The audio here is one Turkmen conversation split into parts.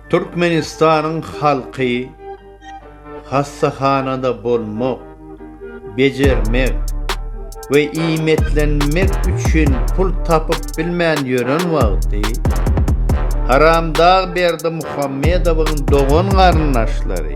Türkmenistanyň halky hassahanada bolmak, bejermek we iýmitlenmek üçin pul tapyp bilmän ýören wagty, haramdag Berdimuhamedowyň dogan-garyndaşlary,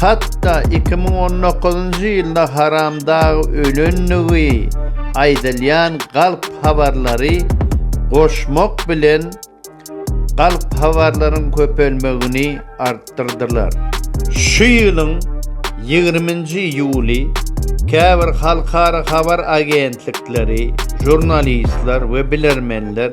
Hatda iki müň on dokuzynjy ýylda Haramdag ölendigi aýdylýan galp habarlary goşmak bilen galp habarlaryň köpelmegini artdyrdylar. Şu ýylyň ýigriminji iýuly käbir halkara habar agentlikleri, žurnalistler we bilermenler,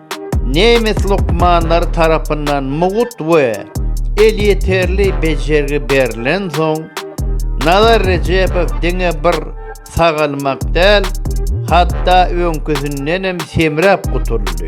Nemes lukmanlary tarapyndan mugt we elýeterli bejergi berlensoň, Nazar Rejebow diňe bir sagalmak däl, hatda öňküsindenem semräp gutuldy.